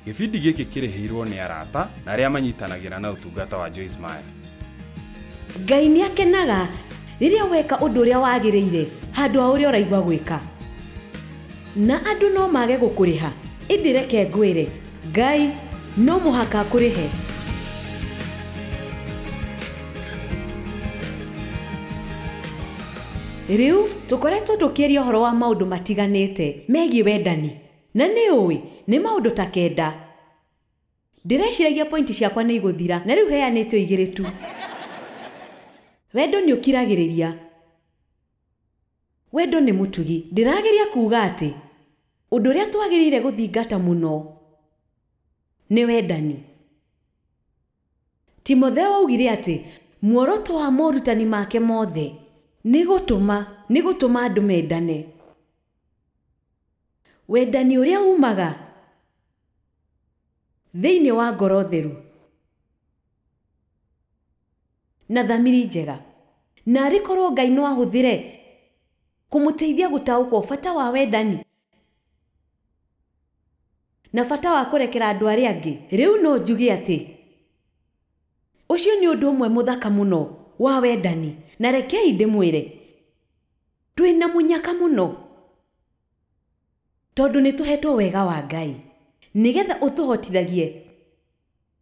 Gĩbindi gĩkĩ kĩrĩhĩirwo nĩ arata na arĩa manyitanagĩra na ũtungata wa Joyce Meyer. Ngai nĩ akenaga rĩrĩa weka ũndũ ũrĩa wagĩrĩire handũ ha ũrĩa ũraigua gwĩka. Na andũ no mage gũkũrĩha, ĩndĩ reke ngwĩre, Ngai no mũhaka akũrĩhe. Rĩu tũkoretwo tũkĩaria ũhoro wa maũndũ matiganĩte megiĩ wendani. Na nĩ ũĩ, nĩ maũndũ ta kenda. Ndĩreciragia point ciakwa nĩ igũthira, na rĩu heanĩte o igĩrĩ tu. Wendo nĩ ũkiragĩrĩria. Wendo nĩ mũtugi. Ndĩrageria kuuga atĩ, ũndũ ũrĩa twagĩrĩire gũthingata mũno nĩ wendani. Timotheo aaugire atĩ, Muoroto wa morutani make mothe nĩ gũtũma, nĩ gũtũma andũ mendane. Wendani ũrĩa uumaga thĩinĩ wa ngoro theru na thamiri njega. Naarĩ korũo Ngai no ahũthĩre kũmũteithia gũtaũkwo bata wa wendani na bata wa kũrekera andũ arĩa angĩ, rĩu no njuge atĩ ũcio nĩ ũndũ ũmwe mũthaka mũno wa wendani. Na rekei ndĩmwĩre. Twĩ na mũnyaka mũno tondũ nĩ tũhetwo wega wa Ngai nĩ getha ũtũhotithagie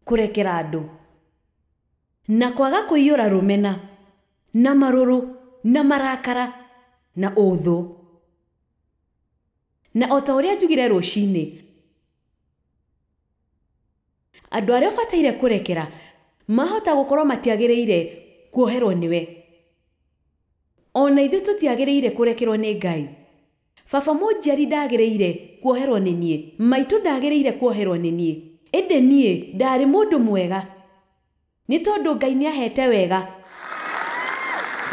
kũrekera andũ na kwaga kũiyũra rũmena na marũrũ na marakara na ũthũ. Na o ta ũrĩa njugire rũcinĩ, andũ arĩa ũbataire kũrekera mahota gũkorwo matiagĩrĩire kuoherwo nĩwe. O na ithuĩ tũtiagĩrĩire kũrekerwo nĩ Ngai. Baba mũnjiari ndaagĩrĩire kuoherwo nĩ niĩ. Maitũ ndaagĩrĩire kuoherwo nĩ niĩ. Ĩndĩ niĩ ndaarĩ mũndũ mwega, nĩ tondũ Ngai nĩ aheete wega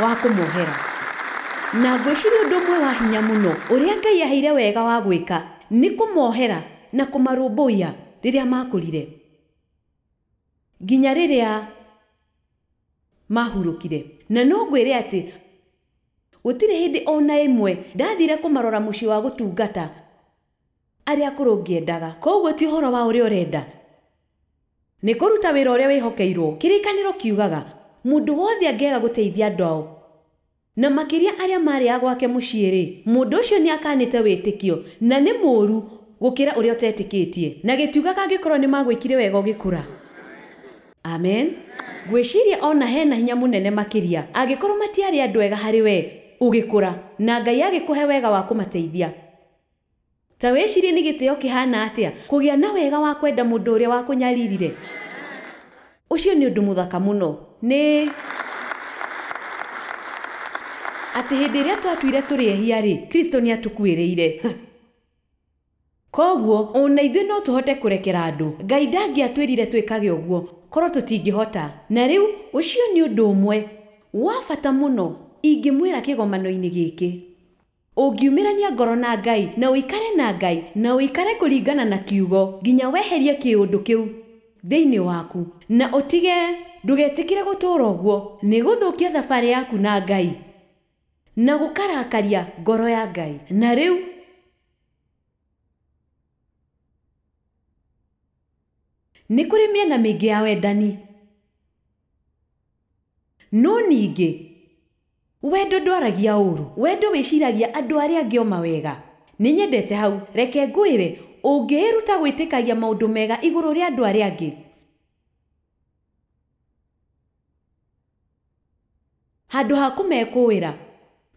wa kũmohera. Na ngwĩciria ũndũ ũmwe wa hinya mũno ũrĩa Ngai aheire wega wa gwĩka nĩ kũmohera na kũmarũmbũiya rĩrĩa maakũrire nginya rĩrĩa. maahurũkire. Na no ngwĩre atĩ gũtirĩ hĩndĩ o na ĩmwe ndathiire kũmarora mũciĩ wa gũtungata arĩa akũrũ ngĩendaga. Kwoguo ti ũhoro wa ũrĩa ũrenda, nĩ kũruta wĩra ũrĩa wĩhokeirũo. Kĩrĩkanĩro kiugaga, Mũndũ wothe angĩaga gũteithia andũ ao Na makĩria arĩa maarĩ a gwake mũciĩ-rĩ, mũndũ ũcio nĩakaanĩte wĩtĩkio, na nĩ mũũru gũkĩra ũrĩa ũtetĩkĩtie. Na gĩtiugaga angĩkorwo nĩmagwĩkire wega ũgĩkũra. Amen. Ngwĩciria o na he na hinya mũnene makĩria angĩkorwo matiarĩ andũ ega harĩ wee ũgĩkũra, na Ngai agĩkũhe wega wa kũmateithia. Ta wĩcirie nĩ gĩtĩo kĩhaana atĩa kũgĩa na wega wa kwenda mũndũ ũrĩa wakũnyaririre! Ũcio nĩ ũndũ mũthaka mũno. Nĩ atĩ hĩndĩ ĩrĩa twatuire tũrĩ ehia-rĩ, Kristo nĩ aatũkuĩrĩire. Kwoguo, o na ithuĩ no tũhote kũrekera andũ. Ngai ndangĩatwĩrire twĩkage ũguo korũo tũtingĩhota. Na rĩu. Ũcio nĩ ũndũ ũmwe wa bata mũno ingĩmwĩra kĩgomano-inĩ gĩkĩ. Ũngiumĩrania ngoro na Ngai, na ũikare na Ngai, na ũikare kũringana na Kiugo, nginya weherie kĩũndũ kĩu thĩinĩ waku, na ũtige, ndũgetĩkĩre gũtũũra ũguo, nĩ gũthũkia thabarĩ yaku na Ngai, na gũkarakaria ngoro ya Ngai. Na rĩu. Nĩ kũrĩ mĩena mĩingĩ ya wendani. No ningĩ, wendo ndwaragia ũũru. Wendo wĩciragia andũ arĩa angĩ o mawega. Nĩ nyendete hau. Reke ngwĩre, ũngĩĩruta gwĩtĩkagia maũndũ mega igũrũ rĩa andũ arĩa angĩ, handũ ha kũmekũũĩra,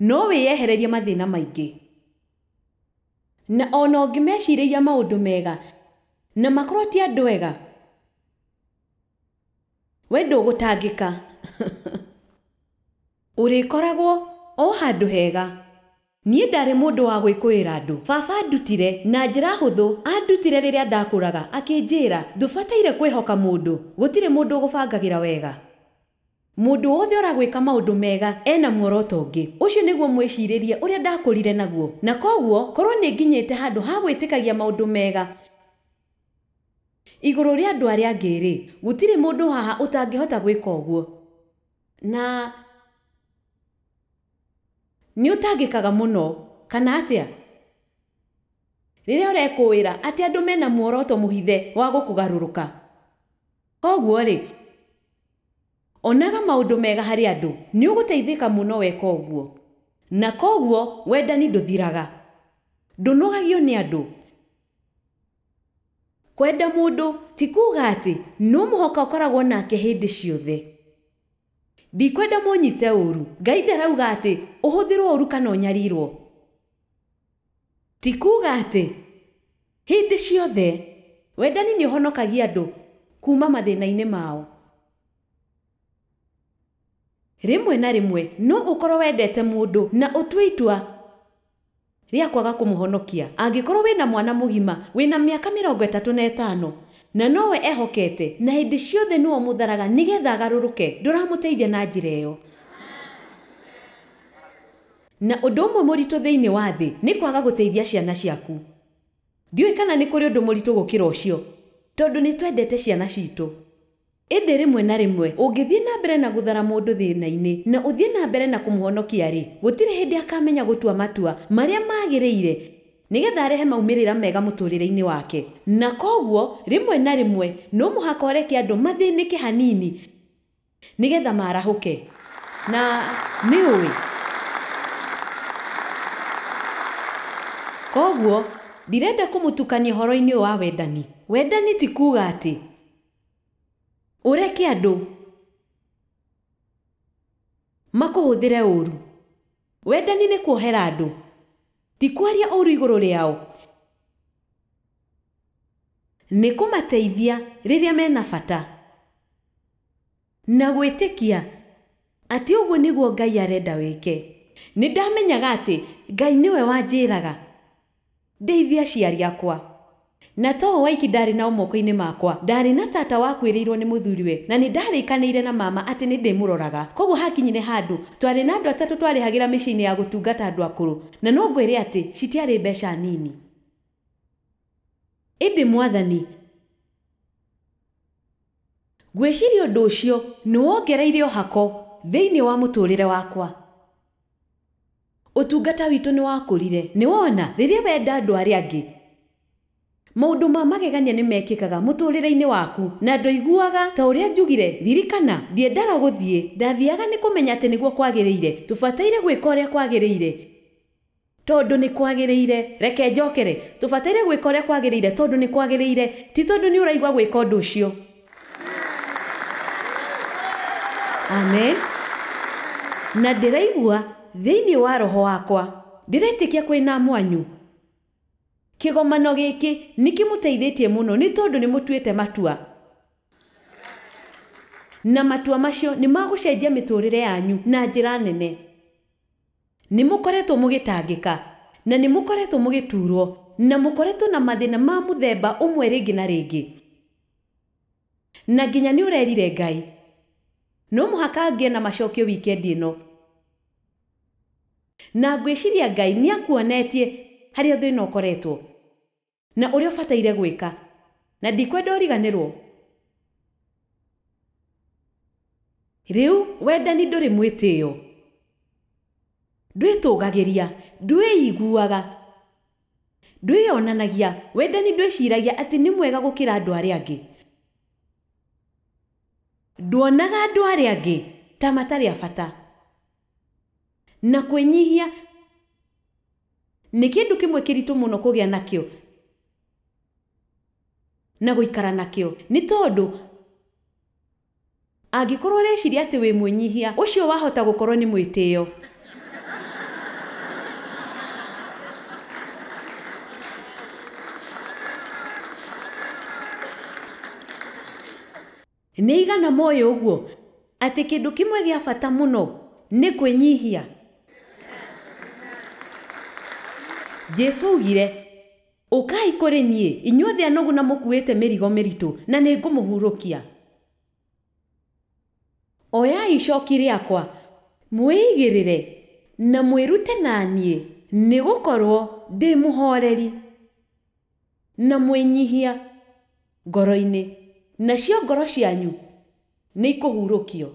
no wĩyehererie mathĩna maingĩ. Na o na ũngĩmecirĩria maũndũ mega na makorũo ti andũ ega, We ndũgũtangĩka. Ũrĩkoragwo o handũ hega. Niĩ ndarĩ mũndũ wa gwĩkũĩra andũ. Baba andutire na njĩra hũthũ, andutire rĩrĩa ndakũraga, akĩnjĩra, Ndũbataire kwĩhoka mũndũ. Gũtirĩ mũndũ ũgũbangagĩra wega. Mũndũ wothe ũragwĩka maũndũ mega e na muoroto ũngĩ. Ũcio nĩguo mwĩcirĩrie ũrĩa ndakũrire naguo. Na kwoguo, korũo nĩ nginyĩte handũ ha gwĩtĩkagia maũndũ mega, Igũrũ rĩa andũ arĩa angĩ-rĩ, gũtirĩ mũndũ haha ũtangĩhota gwĩka ũguo, na nĩũtangĩkaga mũno, kana atĩa, rĩrĩa ũrekũĩra atĩ andũ mena muoroto mũhithe wa gũkũgarũrũka? Koguo-rĩ, onaga maũndũ mega harĩ andũ. Nĩũgũteithĩka mũno weka ũguo. Na koguo wendani ndũthiraga. Ndũnogagio nĩ andũ. Kwenda mũndũ ti kuuga atĩ no mũhaka ũkoragwo nake hĩndĩ ciothe. Ndikwenda mũnyite ũũru, Ngai ndarauga atĩ ũhũthĩrũo ũũru kana ũnyarirũo. Ti kuuga atĩ hĩndĩ ciothe wendani nĩ ũhonokagia andũ kuuma mathĩna-inĩ mao. Rĩmwe na rĩmwe no ũkorũo wendete mũndũ na ũtue itua rĩa kwaga kũmũhonokia. Angĩkorũo wĩ na mwana mũgima wĩ na mĩaka mĩrongo ĩtatũ na ĩtano na nowe ehokete na hĩndĩ ciothe nĩwe ũmũtharaga nĩgetha agarũrũke, ndũramũteithia na njĩra ĩyo. Na ũndũ ũmwe mũritũ thĩinĩ wa thĩ nĩ kwaga gũteithia ciana ciaku. Ndiũĩ kana nĩ kũrĩ ũndũ mũritũ gũkĩra ũcio, tondũ nĩ twendete ciana citũ. Ĩndĩ rĩmwe na rĩmwe ũngĩthiĩ na mbere na gũthara mũndũ thĩna-inĩ na ũthiĩ na mbere na kũmũhonokia-rĩ, gũtirĩ hĩndĩ akamenya gũtua matua marĩa magĩrĩire nĩgetha arehe maumĩrĩra mega mũtũũrĩre-inĩ wake. Na kwoguo rĩmwe na rĩmwe no mũhaka ũreke andũ mathĩnĩke hanini nĩgetha marahũke. Na nĩ ũĩ. Kwoguo ndirenda kũmũtukania ũhoro-inĩ ũyũ wa wendani. Wendani ti kuuga atĩ Ũreke andũ makũhũthĩre ũũru. Wendani nĩ kuohera andũ, ti kwaria ũũru igũrũ rĩao. Nĩ kũmateithia rĩrĩa mena bata. Na gwĩtĩkia atĩ ũguo nĩguo Ngai arenda wĩke. Nĩ ndamenyaga atĩ Ngai nĩwe wanjĩraga ndeithie aciari akwa. Na to o oiki ndaarĩ nao moko-inĩ makwa, ndaarĩ na tata wakuĩrĩirũo nĩ mũthuriwe, na nĩ ndaarĩkanĩire na mama atĩ nĩ ndĩmũroraga. Kwoguo hakinyire handũ twarĩ na andũ atatũ twarĩhagĩra mĩciĩ-inĩ ya gũtungata andũ akũrũ, na no ngwĩre atĩ citiarĩ mbeca nini. Ĩndĩ Mwathani. Ngwĩciria ũndũ ũcio nĩ wongereire ũhako thĩinĩ wa mũtũũrĩre wakwa. Ũtungata witũ nĩ wakũrire. Nĩ wona, rĩrĩa wenda andũ arĩa angĩ, maũndũ ma magegania nĩ mekĩkaga mũtũũrĩre-inĩ waku. Na ndoiguaga ta ũrĩa njugire, Ririkana, ndiendaga gũthiĩ. Ndathiaga nĩ kũmenya atĩ nĩguo kwagĩrĩire. Tũbataire gwĩka ũrĩa kwagĩrĩire. Tondũ nĩ kwagĩrĩire. Reke njokere. Tũbataire gwĩka ũrĩa kwagĩrĩire tondũ nĩ kwagĩrĩire, ti tondũ nĩ ũraigua gwĩka ũndũ ũcio. Amen. Na ndĩraigua thĩinĩ wa roho wakwa. Ndĩretĩkia kũrĩ na mwanyu. Kĩgomano gĩkĩ nĩ kĩmũteithĩtie mũno nĩ tondũ nĩ mũtuĩte matua. Na matua macio nĩ ma gũcenjia mĩtũũrĩre yanyu na njĩra nene. Nĩ mũkoretwo mũgĩtangĩka, na nĩ mũkoretwo mũgĩtuurwo, na mũkoretwo na mathĩna ma mũthemba ũmwe rĩngĩ na rĩngĩ, na nginya nĩ ũrerire Ngai. No mũhaka ngĩe na macokio wikendi ĩno. Na ngwĩciria Ngai nĩ akuonetie harĩa thĩna ũkoretwo. Na ũrĩa ũbataire gwĩka. Na ndikwenda ũriganĩrũo. Rĩu, wendani ndũrĩ mwĩtĩo. Ndwĩtũũgagĩria. Ndwĩiguaga. Ndwĩyonanagia. Wendani ndwĩciragia atĩ nĩ mwega gũkĩra andũ arĩa angĩ. Nduonaga andũ arĩa angĩ ta matarĩ a bata. Na kwĩnyihia nĩ kĩndũ kĩmwe kĩritũ mũno kũgĩa nakĩo na gũikara nakĩo. Nĩ tondũ angĩkorũo ũreciria atĩ wĩ mwĩnyihia, ũcio wahota gũkorũo nĩ mwĩtĩo. Nĩ aigana moĩ ũguo atĩ kĩndũ kĩmwe gĩa bata mũno nĩ kwĩnyihia? Jesu aaugire, Ũkai kũrĩ niĩ, inyuothe anogu na mũkuĩte mĩrigo mĩritũ, na nĩ ngũmũhurũkia. Oyai icoki rĩakwa, mwĩigĩrĩre, na mwĩrute na niĩ, nĩ gũkorũo ndĩ mũhooreri. Na mwĩnyihia ngoro-inĩ, nacio ngoro cianyu nĩikũhurũkio.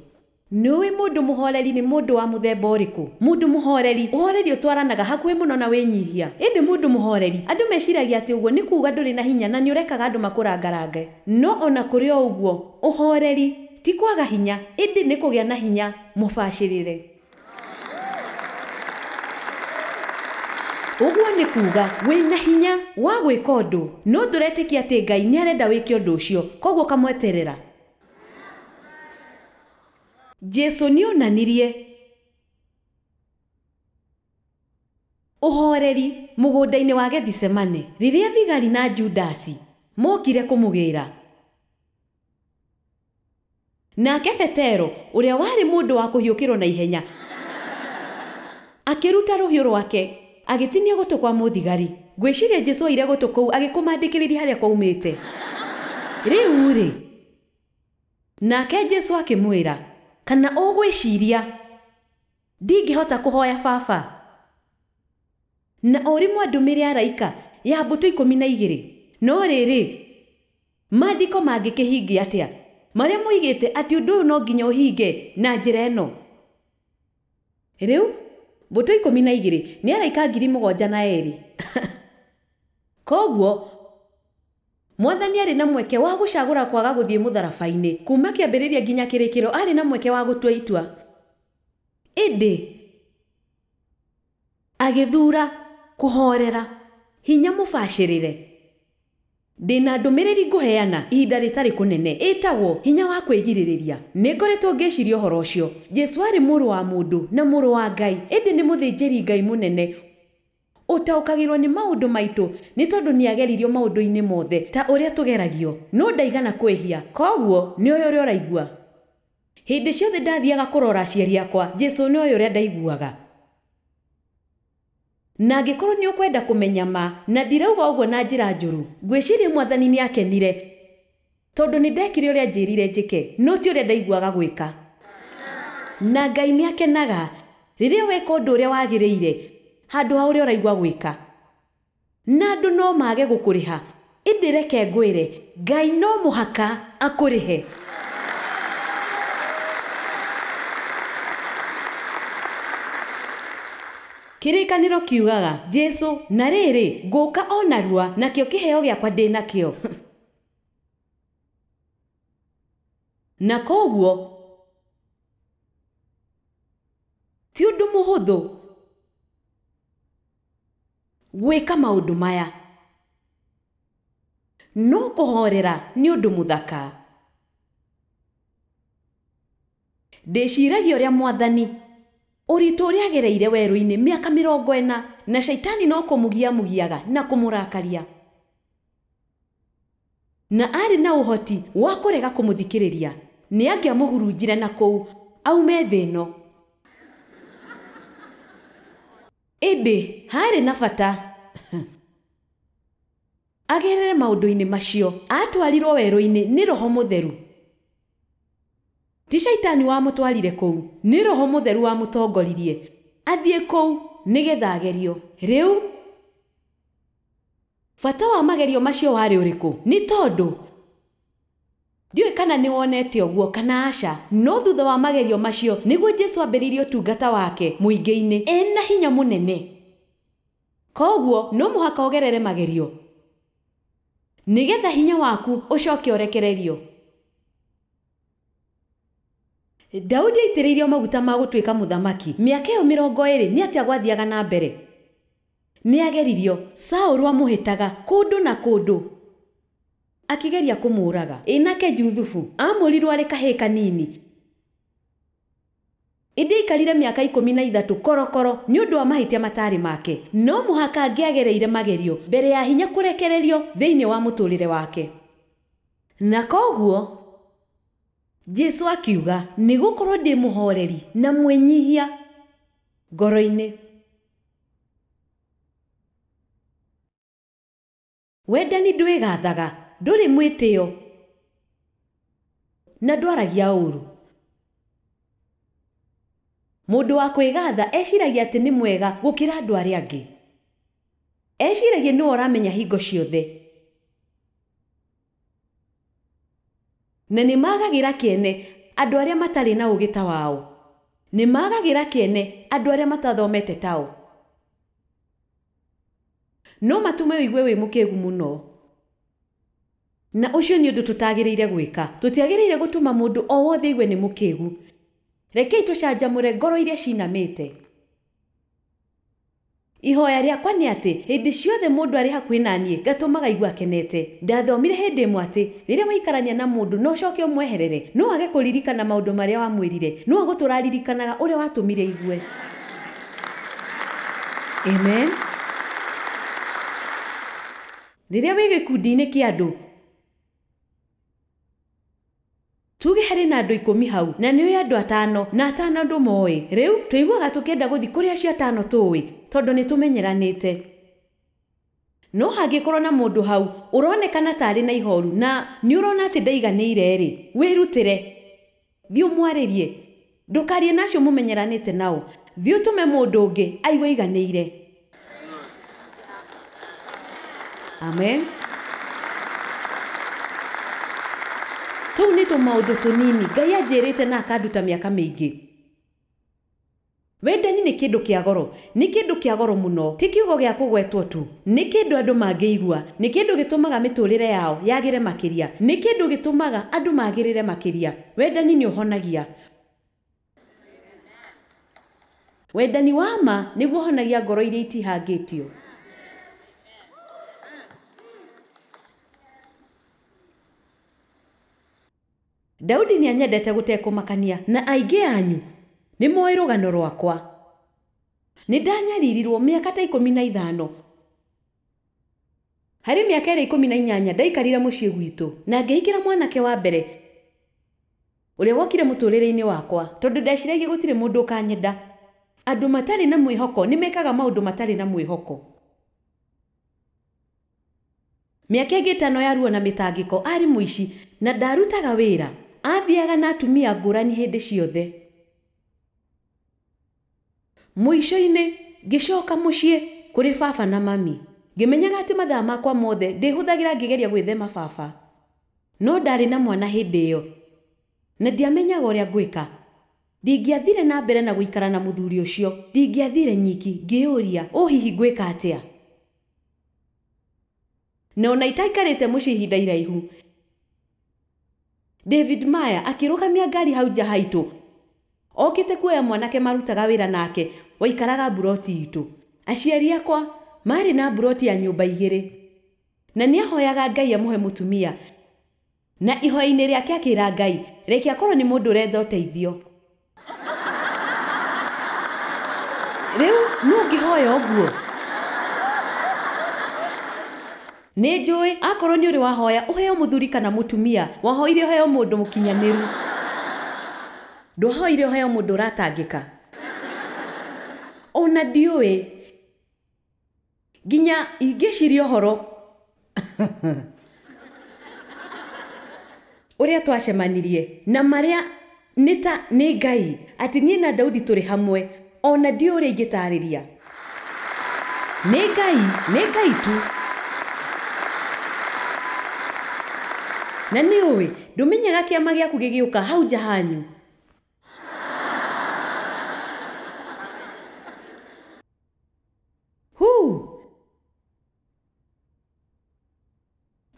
Nĩũĩ mũndũ mũhooreri nĩ mũndũ wa mũthemba ũrĩkũ? Mũndũ mũhooreri. Ũhooreri ũtwaranaga hakuhĩ mũno na wĩnyihia. Ĩndĩ mũndũ mũhooreri, andũ meciragia atĩ ũguo nĩ kuuga ndũrĩ na hinya na nĩũrekaga andũ makũrangarange. No o na kũrĩ o ũguo, ũhooreri ti kwaga hinya, ĩndĩ nĩ kũgĩa na hinya mũbacĩrĩre. Ũguo nĩ kuuga wĩ na hinya wa gwĩka ũndũ, no ndũretĩkia atĩ Ngai nĩ arenda wĩke ũndũ ũcio, kwoguo ũkamweterera. Jesu nĩ oonanirie ũhooreri mũgũnda-inĩ wa Gethisemane rĩrĩa thigari na Judasi mookire kũmũgĩĩra. Nake Petero, ũrĩa warĩ mũndũ wa kũhiũkĩrũo na ihenya, akĩruta rũhiũ rwake, agĩtinia gũtũ kwa mũthigari. Ngwĩciria Jesu oire gũtũ kũu agĩkũmandĩkĩrĩria harĩa kwaumĩte. Rĩu-rĩ, nake Jesu akĩmwĩra. Kana ũgwĩciria ndingĩhota kũhoya Baba, na ũrimũ andũmĩre araika ya mbũtũ ikũmi na igĩrĩ? No rĩrĩ, Maandĩko mangĩkĩhingia atĩa marĩa moigĩte atĩ ũndũ ũyũ no nginya ũhinge na njĩra ĩno? Rĩu, mbũtũ ikũmi na igĩrĩ nĩ araika ngiri mũgwanja na erĩ. Kwoguo, Mwathani arĩ na mweke wa gũcagũra kwaga gũthiĩ mũtharaba-inĩ. Kuuma kĩambĩrĩria nginya kĩrĩkĩro arĩ na mweke wa gũtua itua. Ĩndĩ. Agĩthuura kũhoorera. Hinya mũbacĩrĩre. Ndĩ na ndũmĩrĩri ngũheana ihinda rĩtarĩ kũnene, ĩtagwo, Hinya wa Kwĩgirĩrĩria. Nĩ ngoretwo ngĩciria ũhoro ũcio. Jesu aarĩ Mũrũ wa mũndũ na Mũrũ wa Ngai, ĩndĩ nĩ Mũthĩnjĩri Ngai Mũnene ũtaũkagĩrũo nĩ maũndũ maitũ nĩ tondũ nĩ aageririo maũndũ-inĩ mothe ta ũrĩa tũgeragio, no ndaigana kwĩhia. Kwoguo nĩ oĩ ũrĩa ũraigua. Hĩndĩ ciothe ndathiaga kũrora aciari akwa, Jesu nĩoĩ ũrĩa ndaiguaga. Na angĩkorũo nĩ ũkwenda kũmenya ma, na ndirauga ũguo na njĩra njũru, ngwĩciria Mwathani nĩ aakenire tondũ nĩ ndekire ũrĩa aanjĩrire njĩke, no ti ũrĩa ndaiguaga gwĩka. Na Ngai nĩ akenaga rĩrĩa weka ũndũ ũrĩa wagĩrĩire handũ ha ũrĩa ũraigua gwĩka. Na andũ no mage gũkũrĩha. Ĩndĩ reke ngwĩre, Ngai no mũhaka akũrĩhe. Kĩrĩkanĩro kiugaga, Jesu, na rĩrĩ, ngũka o narua, nakĩo kĩheo gĩakwa ndĩ nakĩo. Na kwoguo, ti ũndũ mũhũthũ. Gwĩka maũndũ maya. No kũhoorera nĩ ũndũ mũthaka. Ndĩciiragia ũrĩa Mwathani. Ũritũ ũrĩa agereire werũ-inĩ mĩaka mĩrongo ĩna, na Shaitani no kũmũgia amũgiaga na kũmũrakaria. Na arĩ na ũhoti wa kũrega kũmũthikĩrĩria, nĩ angĩamũhurunjire na kũu aume thĩ ĩno. Ĩndĩ haarĩ na bata agerere maũndũ-inĩ macio. Aatwarirũo werũ-inĩ nĩ roho mũtheru. Ti Shaitani wamũtwarire kũu, nĩ roho mũtheru wamũtongoririe athiĩ kũu nĩgetha agerio. Rĩu, bata wa magerio macio warĩ ũrĩkũ? Nĩ tondũ Ndiũĩ kana nĩ wonete ũguo kana aca, no thutha wa magerio macio nĩguo Jesu aambĩrĩirie ũtungata wake mũingĩ-inĩ e na hinya mũnene. Kwoguo no mũhaka ũgerere magerio nĩgetha hinya waku ũcoke ũrekererio. Daudi aitĩrĩirio maguta ma gũtuĩka mũthamaki mĩaka ĩyo mĩrongo ĩĩrĩ nĩ atĩa gwathiaga na mbere? Nĩ aageririo, Saũlũ amũhĩtaga kũndũ na kũndũ. Akĩgeria kũmũũraga. Ĩ nake Juthufu? Aamũrirũo arĩ kahĩĩ kanini. Ĩndĩ aikarire mĩaka ikũmi na ithatũ korokoro nĩ ũndũ wa mahĩtia mataarĩ make. No mũhaka angĩagereire magerio mbere ya hinya kũrekererio thĩinĩ wa mũtũũrĩre wake. Na kwoguo. Jesu akiuga, Nĩ gũkorũo ndĩ mũhooreri na mwĩnyihia ngoro-inĩ. Wendani ndwĩgathaga, ndũrĩ mwĩtĩo, na ndwaragia ũũru. Mũndũ wa kwĩgatha eciragia atĩ nĩ mwega gũkĩra andũ arĩa angĩ. Eciragia nĩwe ũramenya hingo ciothe. Na nĩ maagagĩra kĩene andũ arĩa matarĩ na ũũgĩ ta wao. Nĩ maagagĩra kĩene andũ arĩa matathomete tao. No matũme ũigue wĩ mũkĩgu mũno. Na ũcio nĩ ũndũ tũtagĩrĩire gwĩka. Tũtiagĩrĩire gũtũma mũndũ o wothe aigue nĩ mũkĩgu. Rekei tũcanjamũre ngoro iria ciinamĩte. Ihoya rĩakwa nĩ atĩ hĩndĩ ciothe mũndũ arĩ hakuhĩ na niĩ ngatũmaga aigue akenete. Ndathomire hĩndĩ ĩmwe atĩ rĩrĩa waikarania na mũndũ na ũcoke ũmweherere, no age kũririkana maũndũ marĩa wamwĩrire, no agũtũũra aririkanaga ũrĩa watũmire aigue. Amen. Rĩrĩa wĩ gĩkundi-inĩ kĩa andũ, tuge harĩ na andũ ikũmi hau, na nĩ ũĩ andũ atano, na atano ndũmoĩ. Rĩu, tũiguaga tũkĩenda gũthiĩ kũrĩ acio atano tũũĩ, tondũ nĩ tũmenyeranĩte. No hangĩkorũo na mũndũ hau ũronekana ta arĩ na ihooru na nĩ ũrona atĩ ndaiganĩire-rĩ, wĩrutĩre. Thiĩ ũmwarĩrie. Ndũkaarie na acio mũmenyeranĩte nao. Thiĩ ũtũme mũndũ ũngĩ aigue aiganĩire. Amen. Tũu nĩ tũmaũndũ tũnini Ngai anjĩrĩte na akanduta mĩaka mĩingĩ. Wendani nĩ kĩndũ kĩa goro. Nĩ kĩndũ kĩa goro mũno. Ti kiugo gĩa kũgwetwo tu. Nĩ kĩndũ andũ mangĩigua. Nĩ kĩndũ gĩtũmaga mĩtũũrĩre yao yagĩre makĩria. Nĩ kĩndũ gĩtũmaga andũ magĩrĩre makĩria. Wendani nĩ ũhonagia. Wendani wa ma nĩguo ũhonagia ngoro iria itihangĩtio. Daudi nĩanyendete gũtekũmakania. Na aingĩ anyu nĩmooĩ rũgano rwakwa. Nĩndanyaririrwo mĩaka ta ikũmi na ithano. Harĩ mĩaka ĩrĩa ikũmi na inyanya ndaikarire mũciĩ gwitũ, na ngĩhikĩra mwanake wa mbere ũrĩa wokire mũtũũrĩre-inĩ wakwa, tondũ ndeciragia gũtirĩ mũndũ ũkanyenda. Andũ matarĩ na mwĩhoko nĩmekaga maũndũ matarĩ na mwĩhoko. Mĩaka ĩngĩ ĩtano ya ruo na mĩtangĩko arĩ mũici na ndarutaga wĩra, aathiaga na atumia ngũrani hĩndĩ ciothe. Mũico-inĩ, ngĩcoka mũciĩ kũrĩ baba na mami. Ngĩmenyaga atĩ mathaa makwa mothe ndĩhũthagĩra ngĩgeria gwĩthema baba. No ndarĩ na mwana hĩndĩ ĩyo na ndiamenyaga ũrĩa ngwĩka. Ndingĩathire na mbere na gũikara na mũthuri ũcio. Ndingĩathire nyiki, ngĩĩyũria, 'Ũũ hihi ngwĩka atĩa? Na o na itaikarĩte mũciĩ ihinda iraihu, David Maya akĩrũgamia ngari hau nja haitũ okĩte kuoya mwanake marutaga wĩra nake waikaraga mburoti itũ. Aciari akwa maarĩ na mburoti ya nyũmba igĩrĩ, na nĩ ahoyaga Ngai amũhe mũtumia. Na ihoya-inĩ rĩake akĩra Ngai, Reke akorũo nĩ mũndũ ũretha ũteithio. Rĩu, nũ ũngĩhoya ũguo? Nĩ njũĩ, akorũo nĩ ũrĩ wahoya ũheo mũthuri kana mũtumia, wahoire ũheo mũndũ mũkinyanĩru. Ndwahoire ũheo mũndũ ũratangĩka? O na ndiũĩ. nginya ingĩciria ũhoro ũrĩa twacemanirie na marĩa nĩ ta nĩ Ngai atĩ niĩ na Daudi tũrĩ hamwe o na ndiũĩ ũrĩa ingĩtaarĩria. Nĩ Ngai, nĩ Ngai tu. Na nĩ ũĩ, ndũmenyaga kĩama gĩaku gĩgĩũka hau nja hanyu. Huu!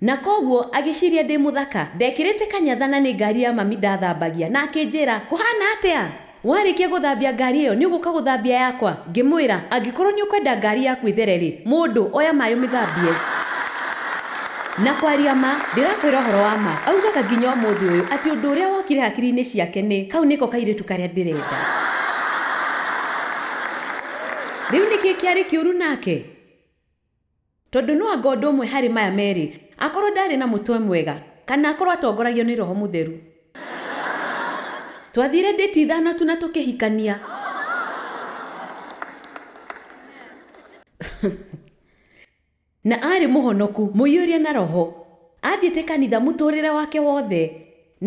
Na kwoguo agĩciria ndĩ mũthaka, ndekĩrĩte kanyatha na nĩ ngari ya mami ndathambagia, na akĩnjĩra, Kũhaana atĩa? Warĩkia gũthambia ngari ĩyo nĩ ũgũka gũthambia yakwa? Ngĩmwĩra, Angĩkorũo nĩ ũkwenda ngari yaku ĩthere-rĩ, mũndũ, oya maĩ ũmĩthambie. Na kwaria ma, ndĩrakwĩra ũhoro wa ma, augaga nginya ũmũthĩ ũyũ atĩ ũndũ ũrĩa wokire hakiri-inĩ ciake nĩ, 'Kau nĩko kairĩtu karĩa ndĩrenda. Rĩu nĩkĩ kĩarĩ kĩũru nake? Tondũ no anga ũndũ ũmwe harĩ maya merĩ, akorũo ndaarĩ na mũtwe mwega, kana akorũo atongoragio nĩ roho mũtheru. Twathiire ndĩti ithano tu na tũkĩhikania. Na aarĩ mũhonoku, mũiyũrie na Roho. Aathiĩte kanitha mũtũũrĩre wake wothe.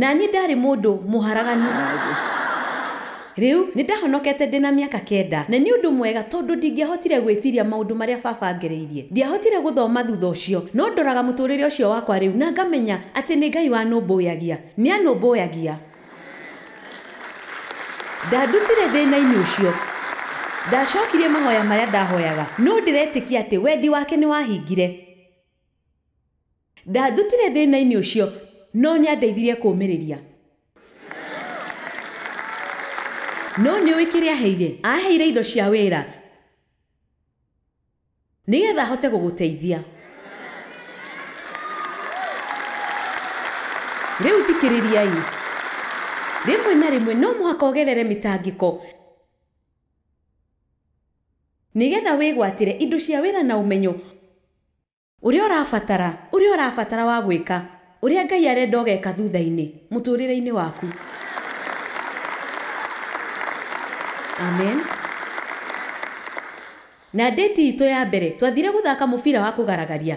Na niĩ ndaarĩ mũndũ mũharaganu. Rĩu, nĩ ndahonokete ndĩ na mĩaka kenda. Na nĩ ũndũ mwega tondũ ndingĩahotire gwĩtiria maũndũ marĩa baba aangereirie. Ndiahotire gũthoma thutha ũcio. No ndoraga mũtũũrĩre ũcio wakwa rĩu na ngamenya atĩ nĩ Ngai wanũmbũyagia. Nĩ anũmbũyagia. Ndandutire thĩna-inĩ ũcio. Ndacokirie mahoya marĩa ndahoyaga. No ndĩretĩkia atĩ wendi wake nĩ wahingire. Ndandutire thĩna-inĩ ũcio, no nĩ andeithirie kũũmĩrĩria. No nĩ ũĩ kĩrĩa aaheire? Aaheire indo cia wĩra. Nĩgetha hote gũgũteithia. Rĩu thikĩrĩriai. Rĩmwe na rĩmwe no mũhaka ũgerere mĩtangĩko nĩgetha wĩgwatĩre indo cia wĩra na ũmenyo. Ũrĩa ũrabatara, ũrĩa ũrabatara wa gwĩka, ũrĩa Ngai arenda ũgeka thutha-inĩ, mũtũrĩre-inĩ waku. Amen. Na ndĩti itũ ya mbere, twathire gũthaka mũbira wa kũgaragaria.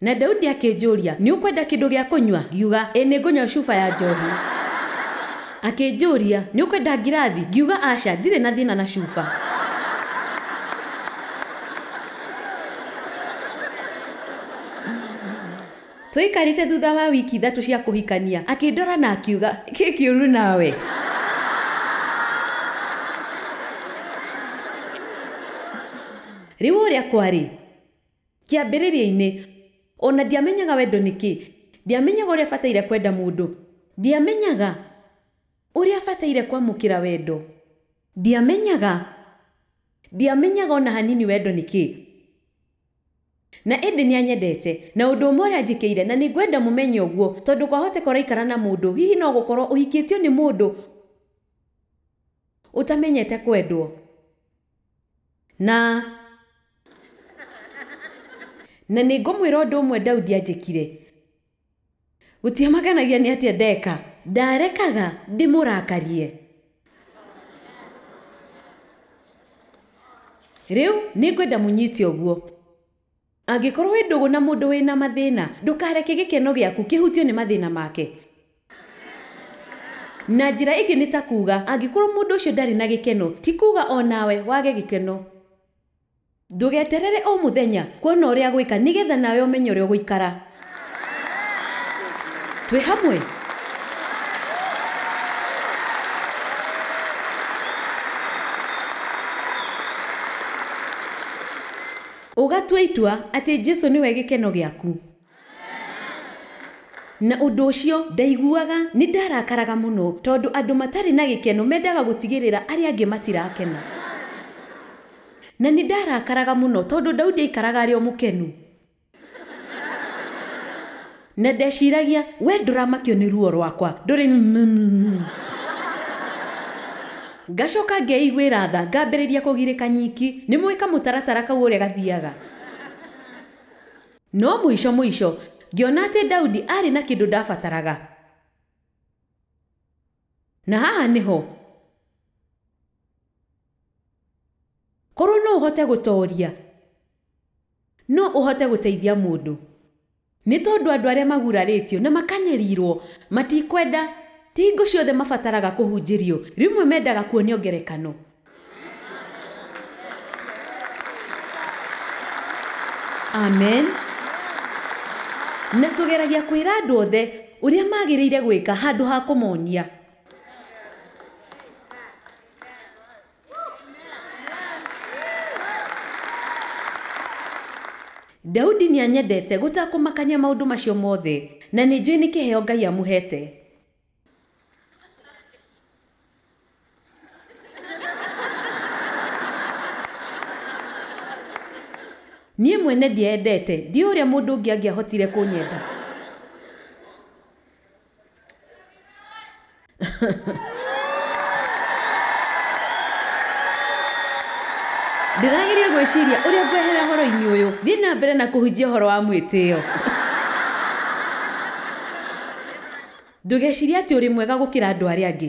Na Daudi akĩnjũria, Nĩ ũkwenda kĩndũ gĩa kũnyua? Ngiuga, Ĩ, nĩ ngũnyua cuba ya njohi. Akĩnjũria, Nĩ ũkwenda ngirathi? Ngiuga, Aca, ndirĩ na thĩna na cuba. Twaikarĩte thutha wa wiki ithatũ cia kũhikania, akĩndora na akiuga, kĩ kĩũru nawe? Rĩu ũrĩa kwarĩ, kĩambĩrĩria-inĩ, o na ndiamenyaga wendo nĩ kĩ, ndiamenyaga ũrĩa bataire kwenda mũndũ, ndiamenyaga ũrĩa bataire kwamũkĩra wendo, ndiamenyaga Ndiamenyaga o na hanini wendo nĩ kĩĩ. Na ĩndĩ nĩ anyendete. Na ũndũ ũmwe ũrĩa anjĩkĩire, na nĩ ngwenda mũmenye ũguo, tondũ kwahoteka ũraikara na mũndũ, hihi no gũkorũo ũhikĩtio nĩ mũndũ ũtamenyete kwendwo, na, na nĩ ngũmwĩra ũndũ ũmwe Daudi anjĩkire. Gũtiamaganagia nĩ atĩa ndeka. Ndarekaga ndĩmũrakarie. Rĩu nĩngwenda mũnyite ũguo. Angĩkorwo wĩ ndũgũ na mũndũ wĩ na mathĩna, ndũkareke gĩkeno gĩaku kĩhutio nĩ mathĩna make. Na njĩra ĩngĩ nĩ ta kuuga, angĩkorwo mũndũ ũcio ndarĩ na gĩkeno, ti kuuga o nawe wage gĩkeno. Ndũgeterere o mũthenya kuona ũrĩa gwĩka nĩ getha nawe ũmenye ũrĩa ũgũikara. Twĩ hamwe? Ũgatua itua atĩ Jesu nĩwe gĩkeno gĩaku. Na ũndũ ũcio ndaiguaga nĩ ndarakaraga mũno, tondũ andũ matarĩ na gĩkeno mendaga gũtigĩrĩra arĩa angĩ matirakena. Na nĩ ndarakaraga mũno tondũ Daudi aaikaraga arĩ o mũkenu. Na ndeciragia, 'Wee ndũramakio nĩ ruo rwakwa, ndũrĩ na. Ngacoka ngeiguĩra tha, ngambĩrĩria kũgirĩka nyiki. Nĩmũũĩ kamũtaratara kau ũrĩa gathiaga? No mũico mũico, ngĩona atĩ Daudi aarĩ na kĩndũ ndabataraga. Na haha nĩho. Korũo no ũhote gũtooria, no ũhote gũteithia mũndũ. Nĩ tondũ andũ arĩa magurarĩtio na makanyariirũo matikwenda, ti hingo ciothe mabataraga kũhunjĩrio, rĩmwe mendaga kuonio ngerekano. amen na tũgeragia kwĩra andũ othe ũrĩa magĩrĩire gwĩka handũ ha kũmonia daudi nĩanyendete gũtakũmakania maũndũ macio mothe na nĩ njũĩ nĩ kĩheo ngai amũhete Niĩ mwene ndieendete, ndiũĩ ũrĩa mũndũ ũngĩ angĩahotire kũnyenda. Ndĩrageria gwĩciria ũrĩa ngwehera ũhoro-inĩ ũyũ. Thiĩ na mbere na kũhunjia ũhoro wa mwĩtĩo. Ndũgecirie atĩ ũrĩ mwega gũkĩra andũ arĩa angĩ.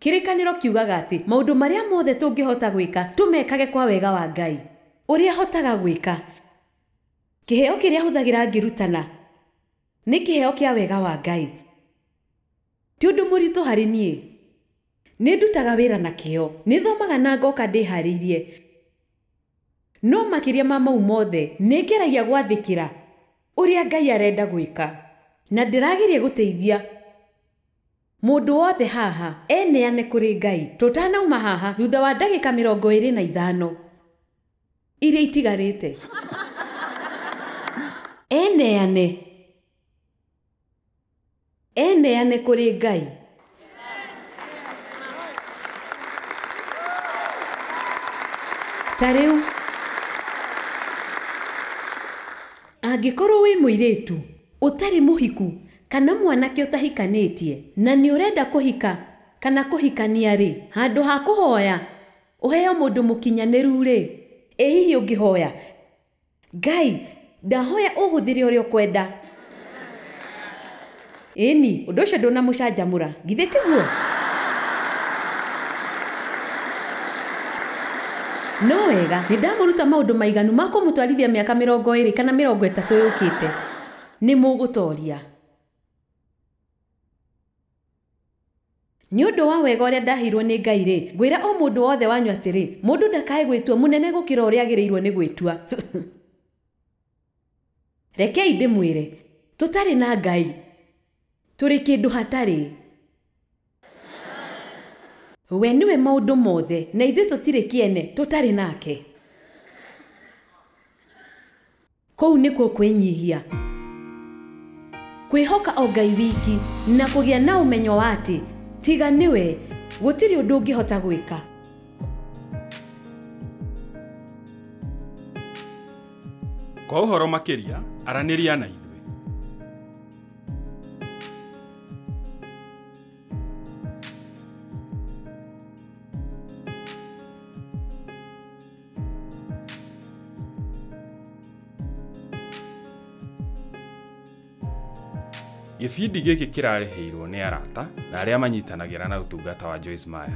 Kĩrĩkanĩro kiugaga atĩ maũndũ marĩa mothe tũngĩhota gwĩka, tũmekage kwa wega wa Ngai. Ũrĩa hotaga gwĩka. Kĩheo kĩrĩa hũthagĩra ngĩrutana nĩ kĩheo kĩa wega wa Ngai. Ti ũndũ mũritũ harĩ niĩ. Nĩ ndutaga wĩra na kĩyo. Nĩ thomaga na ngoka ndĩhaarĩirie. No makĩria ma mau mothe, nĩ ngeragia gwathĩkĩra ũrĩa Ngai arenda gwĩka, na ndĩrageria gũteithia mũndũ wothe haha eneane kũrĩ Ngai tũtanauma haha thutha wa ndagĩka mĩrongo ĩrĩ na ithano iria itigarĩte. Eneane. Eneane kũrĩ Ngai. Ta rĩu, angĩkorũo wĩ mũirĩtu ũtarĩ mũhiku kana mwanake ũtahikanĩtie na nĩ ũrenda kũhika kana kũhikania-rĩ, handũ ha kũhoya ũheo mũndũ mũkinyanĩru-rĩ, ĩ hihi ũngĩhoya Ngai, ndahoya ũhũthĩre ũrĩa ũkwenda. Ĩĩni, ũndũ ũcio ndũnamũcanjamũra, githĩ tiguo? No wega, nĩ ndamũruta maũndũ maiganu ma kũmũtwarithia mĩaka mĩrongo ĩĩrĩ kana mĩrongo ĩtatũ yũkĩte. Nĩ mũgũtooria. Nĩ ũndũ wa wega ũrĩa ndaheirwo nĩ Ngai-rĩ, ngwĩra o mũndũ wothe wanyu atĩrĩ, mũndũ ndakae gwĩtua mũnene gũkĩra ũrĩa agĩrĩirwo nĩ gwĩtua. Rekei ndĩmwĩre, tũtarĩ na Ngai, tũrĩ kĩndũ hatarĩ. We nĩwe maũndũ mothe, na ithuĩ tũtirĩ kĩene tũtarĩ nake. Kũu nĩkuo kwĩnyihia, kwĩhoka o Ngai wiki, na kũgĩa na ũmenyo wa atĩ tiga nĩwe, gũtirĩ ũndũ ũngĩhota gwĩka. Kwa ũhoro makĩria, aranĩria na ithuĩ. Gĩbindi gĩkĩ kĩrarĩhĩirwo nĩ arata na arĩa manyitanagĩra na ũtungata wa Joyce Meyer.